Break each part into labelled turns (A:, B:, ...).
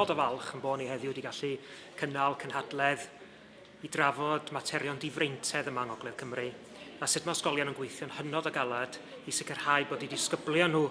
A: hynod o falch yn bod ni heddiw wedi gallu cynnal cynhadledd i drafod materion difreintedd yma yng Ngogledd Cymru a sut mae ysgolion yn gweithio'n hynod o galed i sicrhau bod eu disgyblion nhw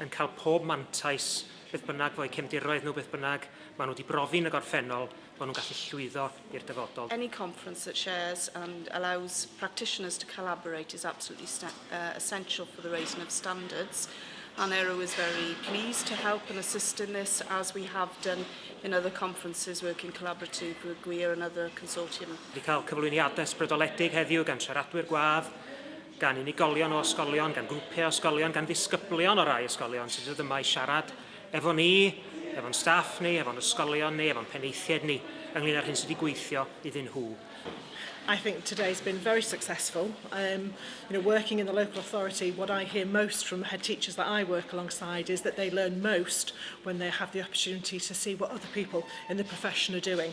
A: yn cael pob mantais Beth bynnag fo'u cefndiroedd nhw, beth bynnag maen nhw wedi brofi yn y gorffennol, maen nhw'n gallu llwyddo i'r dyfodol. Any conference that
B: shares and allows practitioners to collaborate is absolutely uh, essential for the raising of standards. and Aero is very pleased to help and assist in this as we have done in other conferences working collaboratively with GWIR and other consortium. Wedi cael cyflwyniadau
A: ysbrydoledig heddiw gan siaradwyr gwadd, gan unigolion o ysgolion, gan grwpiau o ysgolion, gan ddisgyblion o rai ysgolion sydd ddod yma i siarad efo ni, efo'n staff ni, efo'n ysgolion ni, efo'n penaethiaid ni, ynglyn â'r hyn sydd wedi gweithio iddyn nhw. I think
C: today's been very successful. Um, you know, working in the local authority, what I hear most from the head teachers that I work alongside is that they learn most when they have the opportunity to see what other people in the profession are doing.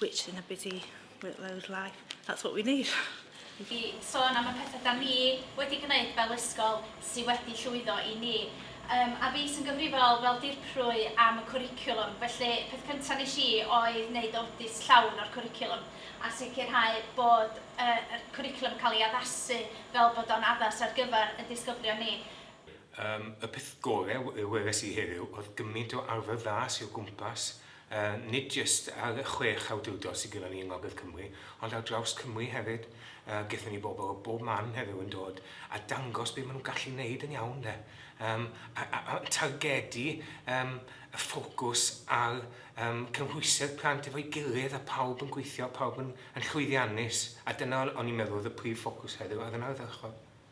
D: which in a busy workload life, that's what we need. I
E: sôn am y pethau da ni wedi gwneud fel ysgol sydd wedi llwyddo i ni. Um, a fi sy'n gyfrifol fel dirprwy am y cwricwlwm, felly peth cyntaf nes i oedd wneud audit llawn o'r cwricwlwm a sicrhau bod uh, y cwricwlwm yn cael ei addasu fel bod o'n addas ar gyfer y disgyblion ni. Um, y
F: peth gorau wres i heddiw oedd gymaint o arfer dda sy'n gwmpas Yy, nid jyst ar y chwech awdurdod sydd gynnon ni yng Ngogledd Cymru, ond ar draws Cymru hefyd. Yy, gethon ni bobl o bob man heddiw yn dod a dangos be' ma' nhw'n gallu neud yn iawn 'de. Yym, a a a targedu yym y ffocws ar yym cynhwysedd plant efo'i gilydd a pawb yn gweithio, pawb yn yn llwyddiannus, a dyna o'n i'n meddwl oedd y prif ffocws heddiw ar yn ardderchog.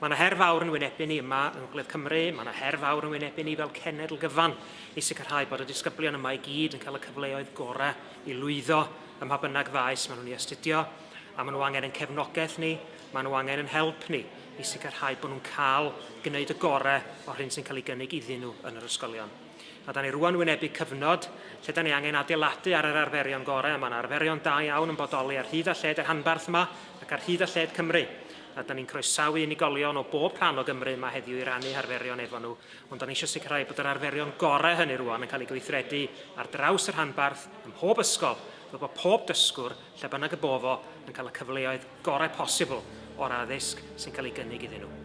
G: Mae yna
A: her fawr yn wynebu ni yma yng Ngogledd Cymru, mae yna her fawr yn wynebu ni fel cenedl gyfan i sicrhau bod y disgyblion yma i gyd yn cael y cyfleoedd gorau i lwyddo ym mha bynnag faes maen nhw'n ei astudio, a maen nhw angen ein cefnogaeth ni, maen nhw angen ein help ni i sicrhau bod nhw'n cael gwneud y gorau o'r hyn sy'n cael ei gynnig iddyn nhw yn yr ysgolion. A da ni rwan wynebu cyfnod lle da ni angen adeiladu ar yr arferion gorau, a mae yna arferion da iawn yn bodoli ar hyd a lled y rhanbarth yma ac ar hyd a lled Cymru. a 'dan ni'n croesawu unigolion o bob rhan o Gymru yma heddiw i rannu harferion efo nhw, ond o'n eisiau sicrhau bod yr arferion gorau hynny rwan yn cael ei gweithredu ar draws y rhanbarth ym mhob ysgol, fel bod pob dysgwr, lle bynnag y bo fo, yn cael y cyfleoedd gorau posibl o'r addysg sy'n cael ei gynnig iddyn nhw.